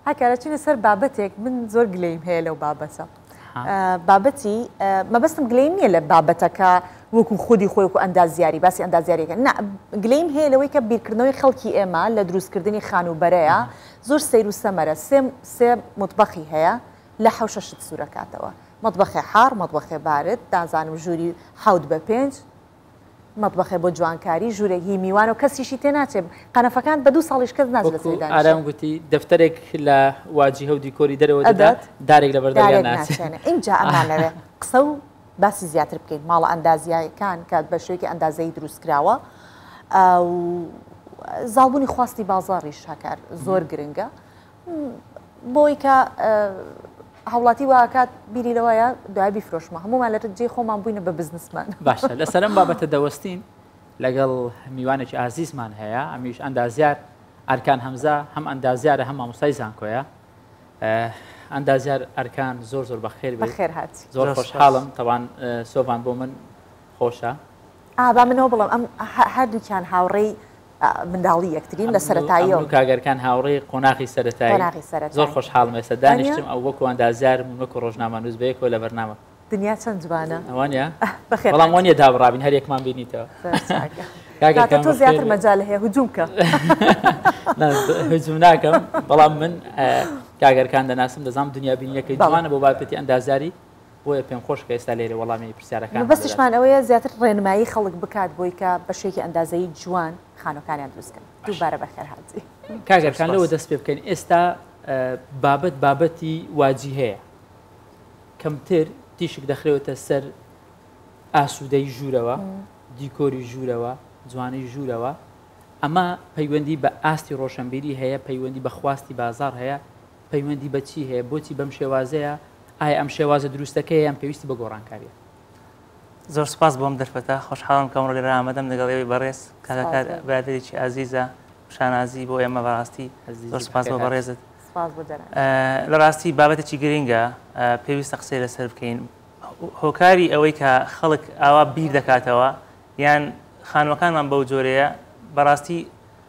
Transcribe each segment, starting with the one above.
ئای کەرە چینە سەر بابەتێک من زۆر گلەیم هەیە لەو بابەتە بابەتی مەبەستم گلەیم نییە لە بابەتەکە وەکو خودی خۆی وەکو ئەندازیاری باسی ئەندازیارێکە نا گلەیم هەیە لەوەی کە بیرکردنەوەی خەڵکی ئێمە لە دروستکردنی خانووبەرەیە زۆر سیر و سەمەرە سێم سێ مطبخی هەیە لە حەوشە شت سوورەکاتەوە مطبخێ حار مطبخێ بارد دازانم ژووری حوت بە پێنج مەتبەخێ بۆ جوانکاری ژوورێک هی میوانە و کەسیشی تێ ناچێ قەنەفەکان بە دوو ساڵیش کەس ناچێت وەکو لەسەری دانیشێ ئارام گوتی دەفتەرێک لە واجیهە و دیکۆری دەرەوە دەدا ئەدات دارێک لەبەر دەرگا دارێک ناچێ ناچێنێ ئینجا ئەمانەوێ قسە و باسی زیاتر بکەین ماڵە ئەندازیایەکان کە بە شێوەیەکی ئەندازەیی دروست کراوە ئە و زاڵبوونی خواستی بازاڕیش هەکار زۆر گرنگە بۆی کە هاوڵاتی واکات بیری لەوەیە دوای بیفرۆشمە هەمومان لە جێ خۆمان بووینە بە بزنسمان باشە لەسەرم بابەتە دەوەستین لەگەڵ میوانێکی ئازیزمان هەیە ئەمیش ئەندازیار ئەرکان هەمزە هەم ئەندازیارە هەم مامۆستای زانکۆیە ئەندازیار ئەرکان زۆر زۆر بەخێر بخێر هاات زۆر خۆشحاڵم تەوان سۆڤان بۆ من خۆشە. ئا با منەوە بڵێم ئەم هەردووکیان هاوڕێی منداڵی یەکترین لە سەرەتاییەوە. ئەم دوو کاگەرکان هاوڕێی قۆناغی سەرەتایی. قۆناغی سەرەتایی. زۆر خۆشحاڵم ئێستا دانیشتم ئەو وەکو ئەندازیارم و وەکو ڕۆژنامەنووس بەیەکەوە لە بەرنامە. دنیا چەند جوانە. وانیە؟ بەخێرتان بەڵام وانیە دابڕابین هەر یەکمان بینیتەوە. زۆر چاکە. کاکە کام بەخێر. تۆ زیاتر مەجال هەیە هجووم کە. نا هجووم ناکەم بەڵام من کاگەرکان دەناسم دەزانم دنیابینییەکەی جوانە بۆ بابەتی ئەندازیاری. بۆیە پێم خۆشە کە ئێستا لێرە وەڵامی پرسیارەکانمان دەدات. مەبەستیشمان ئەوەیە زیاتر ڕێنمایی خەڵک بکات بۆی کە بە شێکی ئەندازەیی جوان خانووەکانیان دروست بکەن. دووبارە بەخێر هاتی. کاک ئەرکان لەوە دەست پێ بکەین ئێستا بابەت بابەتی واجیهەیە کەمتر تیشک دەخرێتە سەر ئاسوودەی ژوورەوە، دیکۆری ژوورەوە، جوانی ژوورەوە، ئەمە پەیوەندی بە ئاستی ڕۆشنبیری هەیە، پەیوەندی بە خواستی بازاڕ هەیە، پەیوەندی بە چی هەیە؟ بۆچی بەم شێوازەیە؟ ئایا ئەم شێوازە دروستەکەیە یان پێویستی بە گۆڕانکارییە؟ زۆر سوپاس بۆ ئەم دەرفەتە، خۆشحاڵم کە ئەمڕۆ لێرە ئامادەم لەگەڵ ئێوەی بەڕێز، کاکە برادەرێکی ئازیزە، شانازی بۆ ئێمە بەڕاستی، زۆر سوپاس بۆ بەڕێزت. لە ڕاستی بابەتێکی گرنگە، پێویستە قسەی لەسەر بکەین، هۆکاری ئەوەی کە خەڵک ئاوا بیر دەکاتەوە یان خانووەکانمان بەو جۆرەیە، بەڕاستی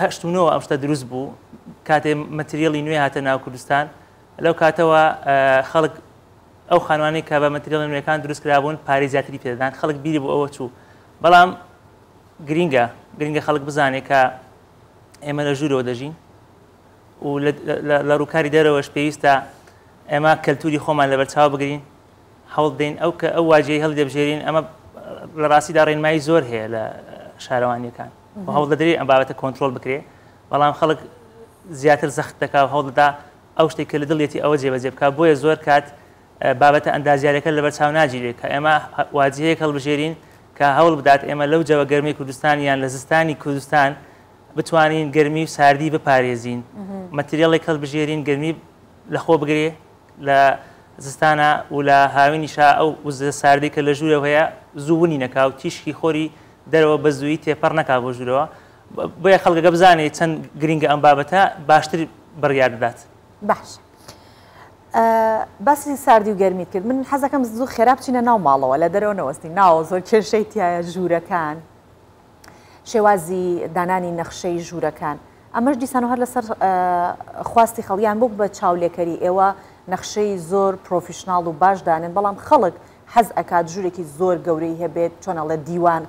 هەشت و نۆ ئەم شتە دروست بوو کاتێ مەتریالی نوێ هاتە ناو کوردستان لەو کاتەوە خەڵک ئەو خانوانی کە بە مەتریالی نوێەکان دروست کرابوون پارێ زیاتری پێدان خەڵک بیری بۆ ئەوە چوو بەڵام گرینگە گرنگە خەڵک بزانێت کە ئێمە لە ژوورەوە دەژین و لە ڕووکاری دەرەوەش پێویستە ئێمە کەلتوری خۆمان لە بەرچاو بگرین هەوڵ دەین ئەو کە ئەو واجی هەڵی دەبژێرین ئەمە لە ڕاستیدا ڕێنمایی زۆر هەیە لە شارەوانیەکان و هەوڵدەدرێ ئەم بابەتە کۆنترۆڵ بکرێ بەڵام خەڵک زیاتر زەخت دەکا و هەوڵدەدا ئەو شتێک کە لە دڵیەتی ئەوە جێبەجێ بکە بۆیە زۆر کات بابەتە ئەندازیارەکە لەبەر چاو ناگیرێت کە ئێمە واجهەیەک هەڵبژێرین کە هەوڵ بدات ئێمە لەو جەوە گەرمی کوردستان یان لە زستانی کوردستان بتوانین گەرمی و ساردی بپارێزین مەتریاڵێک هەڵبژێرین گەرمی لەخۆ بگرێ لە زستانا و لە هاوینیشا ئەو وزە ساردەی کە لە ژوورەوە هەیە زوو ونی نەکا و تیشکی خۆری دەرەوە بە زوویی تێپەڕ نەکا بۆ ژوورەوە، بۆیە خەڵک ئەگەر بزانێ چەند گرینگە ئەم بابەتە باشتر بڕیار دەدات. باشە باسی ساردی و گەرمیت کرد، من حەز دەکەم زوو خێرا بچینە ناو ماڵەوە، لە دەرەوە نەوەستین، ناوە زۆر کێشەی تایە ژوورەکان؟ شێوازی دانانی نەخشەی ژوورەکان ئەمەش دیسان و هەر لەسەر خواستی خەڵیان بۆک بە چاولێکەری ئێوە نەخشەی زۆر پرۆفیشنناڵ و باش دانن بەڵام خەڵک حەز ئەکات ژوورێکی زۆر گەورەی هەبێت چۆنەڵە دیوان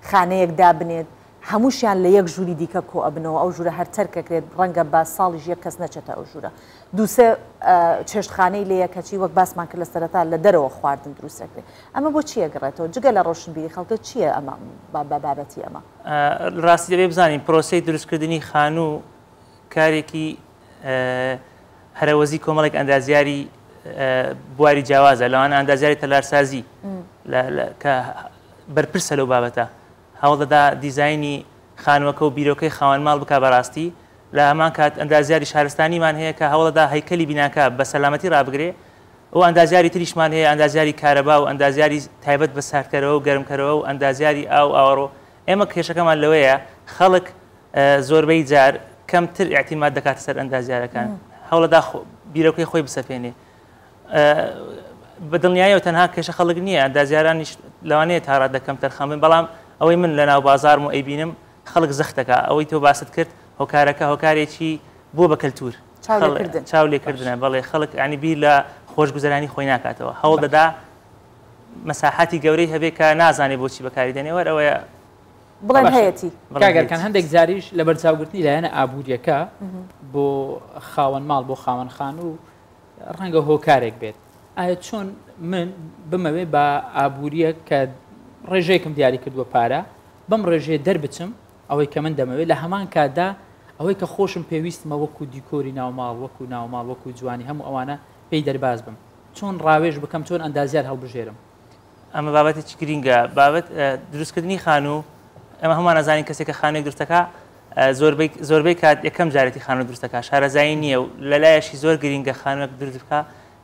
خانەیەک دابنێت هەمووشیان لە یەک ژووری دیکە کۆ ئەبنەوە ئەو ژوورە هەر تەرکەکرێت ڕەنگە بە ساڵیش یەک کەس نەچێتە ئەو ژوورە دوو سێ چێشتخانەی لێیە کەچی وەک باسمان کرد لە سەرەتا لە دەرەوە خواردن دروست دەکرێت ئەمە بۆ چی ئەگەڕێتەوە جگە لە ڕۆشنبیری خەڵکە چییە ئەمە بە بابەتی ئەمە ڕاستی دەبێ بزانین پرۆسی دروستکردنی خانوو کارێکی هەرەوەزی کۆمەڵێک ئەندازیاری بواری جیاوازە لەوان ئەندازیاری تەلارسازی کە بەرپرسە لەو بابەتە هەوڵدەدا دیزایانی خانوەکە و بیرۆکەی خاوەن ماڵ بک بەڕاستی لە هەمان کات ئەندازیاری شارستانیمان هەیە کە هەوڵەدا هەیکەلی بیناکە بە سەلامەتی ڕابگرێ و ئەندازیاری تریشمان هەیە ئەندازیاری کارەبا و ئەندازیاری تایبەت بە ساردکەرەوە و گەرمکەرەوە و ئەندازیاری ئاو ئاوەڕۆ ئێمە کێشەکەمان لەوەیە خەڵک زۆربەی جار کەمتر ئیعتیماد دەکاتە سەر ئەندازیارەکان هەوڵەدا بیرۆکەی خۆی بسەپێنێ بە دڵنیایەوە تەنها کێشە خەڵک نییە ئەندازیارانیش لەوانەیە تاڕادەکەم تەرخەمن بەڵام ئەوەی من لە ناو بازارم و ئەیبینم خەڵک زەختەکا ئەوەی تۆ باست کرد هۆکارەکە هۆکارێکی بووە بە کەلتور چاو لێکردنە بەڵێ خەڵک ینی بیر لە خۆشگوزەرانی خۆی ناکاتەوە هەوڵ دەدا مەساحاتی گەورەی هەبێ کە نازانێ بۆچی بەکاری دەنێوەر ئەوەیە بڵێن هەیەتی کاگەرکان هەندێک جاریش لە بەرچاوگرتنی لایەنە ئابوووریەکە بۆ خاوەن ماڵ بۆ خاوەن خان و ڕەنگە هۆکارێک بێت ئایا چۆن من بمەوێ بە ئابووریە کە ڕێژەیەکم دیاری کردووە پارە بەم ڕێژەیە دەربچم ئەوەی کە من دەمەوێت لە هەمان کاتدا ئەوەی کە خۆشم پێویستمە وەکو دیکۆری ناوماڵ وەکو ناوماڵ وەکو جوانی هەموو ئەوانە پێی دەرباز بم چۆن ڕاوێژ بکەم چۆن ئەندازیار هەڵبژێرم ئەمە بابەتێکی گرینگە بابەت دروستکردنی خانوو ئەمە هەمان ئەزانین کەسێک کە خانووی درستەکە زۆربەی کات یەکەم جارێتی خانوو درستەکە شارەزایی نییە و لەلایەشی زۆر گرینگە خانووەک دروست بکە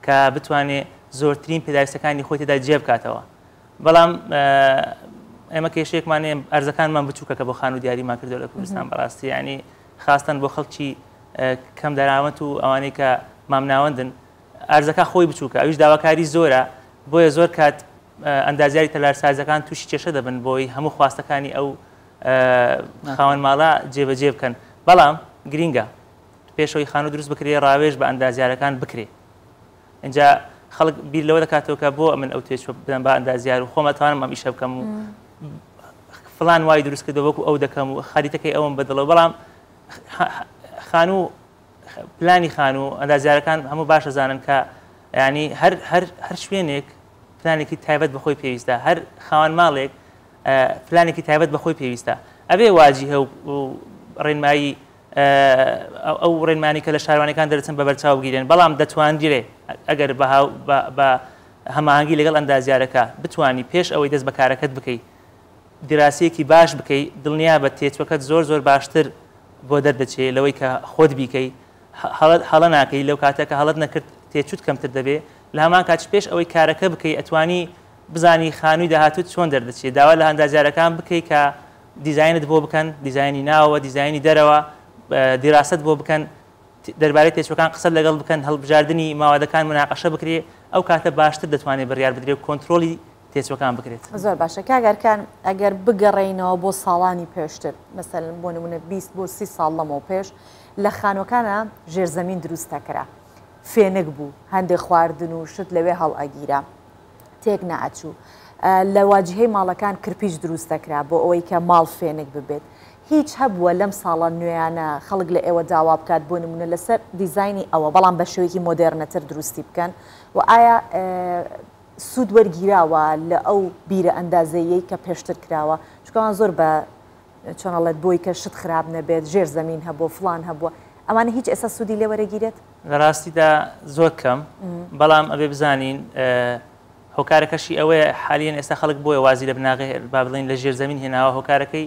کە بتوانێت زۆرترین پێداویستەکانی خۆی تێدا جێ بکاتەوە بەڵام ئێمە کێشێکمان ئەرزەکانمان بچووکە کە بۆ خانوو دیاریمان کردو لە کوردستان بەڕاستی ینی خاستن بۆ خەڵکی کەم دەراوەت و ئەوانەی کە مامناوەندن ئارزەکە خۆی بچووکە ئەویش داواکاری زۆرە بۆیە زۆر کات ئەندازیاری تەلارسازەکان تووشی کێشە دەبن بۆی هەموو خواستەکانی ئەو خاوەن ماڵە جێبەجێ بکەن بەڵام گرینگە پێشەوەی خانوو دروست بکرێ ڕاوێژ بە ئەندازیارەکان بکرێ اینجا خەڵک بیر لەوە دەکاتەوە کە بۆ من ئەو توێش بدەم بە ئەندازیار و خۆمەتوانم ئەم ئیشە بکەم و فلان وای دروست کردەوەکو ئەو دەکەم و خەریتەکەی ئەوم بەدڵەوە بەڵام خانوو پلانی خانو و ئەندازیارەکان هەموو باش ئەزانن کە یانی هەر هەر هەر شوێنێک پلانێکی تایبەت بەخۆی پێویستە هەر خاوەن ماڵێک پلانێکی تایبەت بەخۆی پێویستە ئەبێ واجی هەو ڕێنمایی ئەو ڕێنمانی کە لە شارانەکان دەرچن بە بەرچاو بگیرێن بەڵام دەتوانگیرێ ئەگەر بە هەماهنگگی لەگەڵ ئەندازیارەکە بتانی پێش ئەوەی دەست بەکارەکەت بکەیت دراسەیەکی باش بکەی دڵنیابە تێچوەکەت زۆر زۆر باشتر بۆ دەردەچێ لەوەی کە خۆت بیکەی هەڵە هەڵە ناکەی لەو کاتە کە هەڵەت نەکرد تێچوت کەمتر دەبێ لە هەمان کاتش پێش ئەوەی کارەکە بکەی ئەتوانی بزانی خانووی داهاتوت چۆن دەردەچێ داوا لە ئەندازیارەکان بکەی کە دیزاینت بۆ بکەن دیزاینی ناوەوە دیزاینی دەرەوە دیراست بۆ بکەن دەربارەی تێچووەکان قسەت لەگەڵ بکەن، هەڵبژاردنی ماوادەکان موناقەشە بکرێ، ئەو کاتە باشتر دەتوانێ بڕیار بدرێ و کۆنترۆڵی تێچووەکان بکرێت. زۆر باشە کاک ئەرکان، ئەگەر بگەڕێینەوە بۆ ساڵانی پێشتر، مەسەلەن بۆ نموونە بیست بۆ سی ساڵ لەمەوپێش، لە خانووەکانا ژێرزەمین دروست دەکرا، فێنک بوو، هەندێ خواردن و شت لەوێ هەڵئەگیرا، تێک نەئەچوو. لە واجیهەی ماڵەکان کرپیچ دروست دەکرا بۆ ئەوەی کە ماڵ فێنک ببێت. هیچ هەبووە لەم ساڵە نوێیانە خەڵک لە ئێوە داوا بکات بۆ نموونە لەسەر دیزاینی ئەوە بەڵام بە شێوەیەکی مۆدێرنەتر دروستی بکەن؟ وە ئایا سوود وەرگیراوە لە ئەو بیرە ئەندازەییەی کە پێشتر کراوە؟ چونکە ئەوان زۆر بە چۆن ئەڵێت بۆی کە شت خراپ نەبێت ژێر زەمین هەبووە فڵان هەبووە ئەمانە هیچ ئێستا سوودی لێ وەرەگیرێت؟ لە ڕاستیدا زۆر کەم بەڵام ئەبێ بزانین هۆکارەکەشی ئەوەیە حالیەن ئێستا خەڵک بۆیە وازی لە بناغەی با بڵێن لە ژێر زەمین هێناوە هۆکارەکەی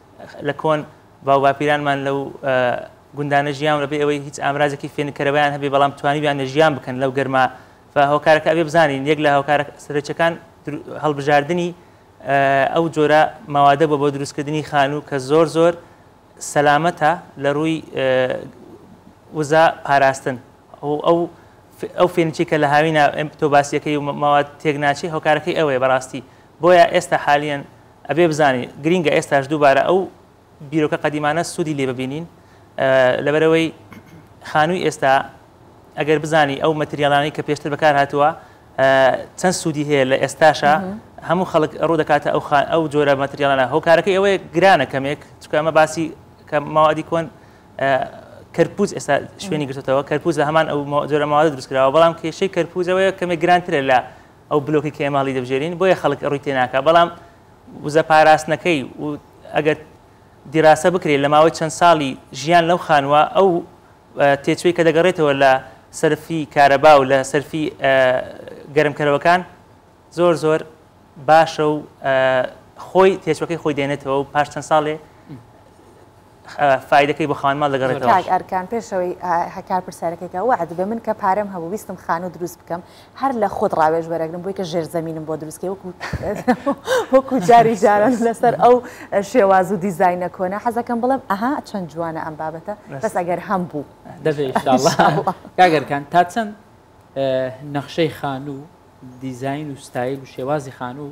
لە کۆن باوباپیرانمان لەو گوندانە ژیان لەبێ ئەوەی هیچ ئامرازێکی فێنکەرەوەیان هەبێ بەڵام توانیویانە ژیان بکەن لەو گەرما هۆکارەکە ئەبێ بزانین یەک لە هۆکارە سەرچەکان هەڵبژاردننی ئەو جۆرە ماوادە بۆ بۆ دروستکردنی خانوو کە زۆر زۆر سەلامەتە لە ڕووی وزە پاراستن ئەو ئەو ئەو فێنچی کە لە هاوینا تۆ باسیەکەی و ماوە تێک ناچی هۆکارەکەی ئەوەیە بەڕاستی بۆیە ئێستا حالیان ئەبێ بزانین گرینگە ئێستاش دووبارە ئەو بیرۆکە قەدیمانە سوودی لێ ببینین لەبەرەوەی خانووی ئێستا ئەگەر بزانی ئەو مەتریالانی کە پێشتر بەکار هاتووە چەند سوودی هەیە لە ئێستاشە هەموو خەڵک ڕوو دەکاتە ئەو ئەو جۆرە مەتریالانە هۆکارەکەی ئەوەیە گرانە کەمێک چکە ئەمە باسی کە ماوادی کۆن کەرپوز ئێستا شوێنی گرتەوە کەرپوز لە هەمان ئەو جۆرە ماوە دروستکراوە بەڵام کێشەی کەرپوزەوەیە کەمێک گرانترە لە ئەو بلۆکەی کە ئێمە هەڵیدەبژێرین بۆیە خەڵک ڕووی تێناکا بەڵام وزە پاراستنەکەی و ئەگەر دیراسە بکرێت لە ماوەی چەند ساڵی ژیان لەو خانووە ئەو تێچووی کە دەگەڕێتەوە لە سەرفی کارەبا و لە سەرفی گەرمکەرەوەکان زۆر زۆر باشە و خۆی تێچوەکەی خۆی دێنێتەوە و پاش چەند ساڵێ فایدەکەی بۆ خاوەن ماڵ دەگەڕێتەوە. کاک ئەرکان پێشەوەی هەکار پرسیارەکەی کە وەعد بە من کە پارەم هەبوو ویستم خانوو دروست بکەم هەر لە خۆت ڕاوێژ وەرەگرم بۆی کە ژێر زەمینم بۆ دروست کەی وەکو وەکو جاری جاران لەسەر ئەو شێواز و دیزاینە کۆنە حەزەکەم بڵێم ئەها چەند جوانە ئەم بابەتە بەس ئەگەر هەم بوو دەبێ ئیشاڵڵا کاک ئەرکان تا چەند نەخشەی خانوو دیزاین و ستایل و شێوازی خانوو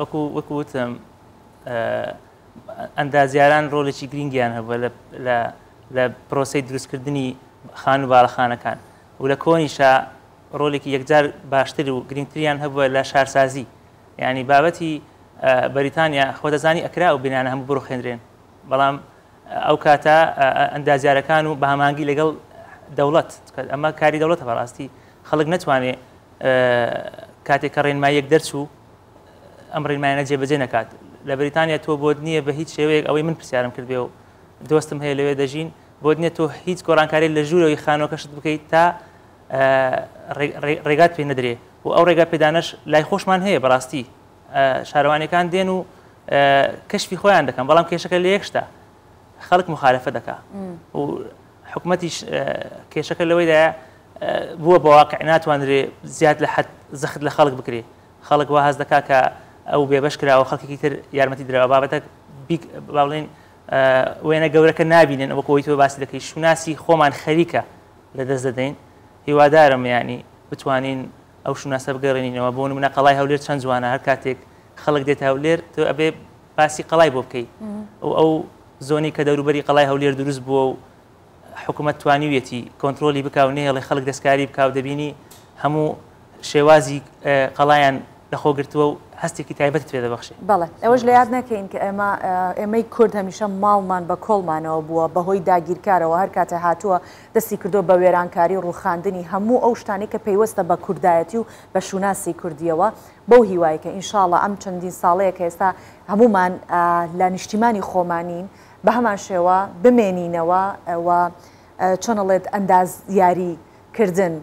وەکو وەکو وتم ئەندازیاران ڕۆلێکی گرنگیان هەبووە لە پرۆسی دروستکردنی خان و باڵەخانەکان و لە کۆنیشا ڕۆلێکی یەکجار باشتر و گرنگتریان هەبووە لە شارسازی یعنی بابەتی بەریتانیا خۆدەزانی ئەکرا و بینانە هەموو بڕخێنرێن بەڵام ئەو کاتە ئەندازیارەکان و بامانگی لەگەڵ دەوڵەت ئەمە کاری دەوڵەتە بەڕاستی خەڵک نەتوانێت کاتێک کە ڕێنماییەک دەرچوو ئەم ڕێنمایانە جێبەجێ نەکات لە بریتانیا تۆ بۆت نییە بە هیچ شێوەیەک ئەوەی من پرسیارم کردێ و دۆستم هەیە لەوێ دەژین بۆت نیە تۆ هیچ گۆڕانکاری لە ژوورەوەی خانۆکەشت بکەیت تا ڕێگات پێ نەدرێ و ئەو ڕێگا پێدانش لای خۆشمان هەیە بەڕاستی شارەوانەکان دێن و کەشفی خۆیان دەکەن بەڵام کێشەکە لە یەکشتا خەڵک مخالفە دەکا و حکومەتیش کێشەکە لەوەیدایە بووە بە واقع ناتوانرێ زیاد لە حەد زەخت لە خەڵک بکرێ خەڵک وا هەز دەکا کە ئەو بێبەش کراوە خەڵکێکی تر یارمەتی درراوە بابەتە باڵێن وێنە گەورەکە نبینن ئەوە کۆی تۆ باسی دەکەی شوناسی خۆمان خەریکە لە دەست دەدەین هیوادارم ینی بتوانین ئەو شوناسە بگەڕێنینەوە بۆ منە قەڵای هەولێر چەند جوانە هەر کاتێک خەڵک دێت هەولێر تۆ ئەبێ باسی قەڵای بۆ بکەی و ئەو زۆنی کە دەوروبەری قەڵای هەولێر دروست بووە و حکوومەت توانیویەتی کۆنتترۆلی بک و نێڵی خەڵک دەستکاری بک و دەبینی هەموو شێوازی قەڵایەن لەخۆگرتووە و هەستێکی تایبەت پێ دەبخشێ بەڵێ ئەوەش لە یاد نەکەین کە ئێمە ئێمەی کورد هەمیشە ماڵمان بە کۆڵمانەوە بووە بەهۆی داگیرکارەوە هەر کاتە هاتووە دەستی کردو بە وێرانکاری و ڕوخاندنی هەموو ئەو شتانی کە پەیوەستە بە کوردایەتی و بە شوناسی کوردیەوە بەو هیوای کە ئینشاڵا ئەم چەندین ساڵەیە کە ئێستا هەموومان لە نیشتیمانی خۆمانین بە هەمان شێوە بمێنینەوە و چۆن ئەڵێت ئەندازیاری کردن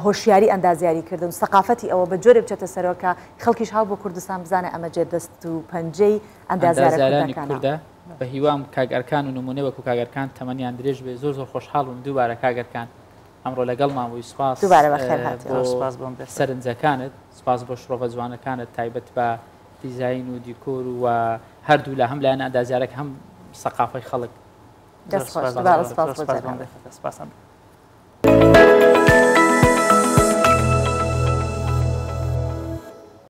هۆشیاری ئەندازیاری کردن سەقافەتی ئەوە بە جۆرێ بچێتە سەرەوە کە خەڵکیش هاو بۆ کوردستان بزانێ ئەمە جێ دەست و پەنجەی ئەندازیارانی کوردە بە هیوام کاک ئەرکان و نمونە وەکو کاک ئەرکان تەمەنیان درێژ بێ زۆر زۆر خۆشحاڵ بووم دووبارە کاک ئەرکان ئەمڕۆ لەگەڵمان بووی سوپاس دووبارە بەخێر هات زۆر سوپاس بۆم دەست سەرنجەکانت سوپاس بۆ شڕۆڤە جوانەکانت تایبەت بە دیزاین و دیکۆر و هەردوو لە هەم لایەن ئەندازیارەک هەم سەقافی خەڵک دەست خۆش دووبارە سوپاس بۆ جەنابت سوپاسم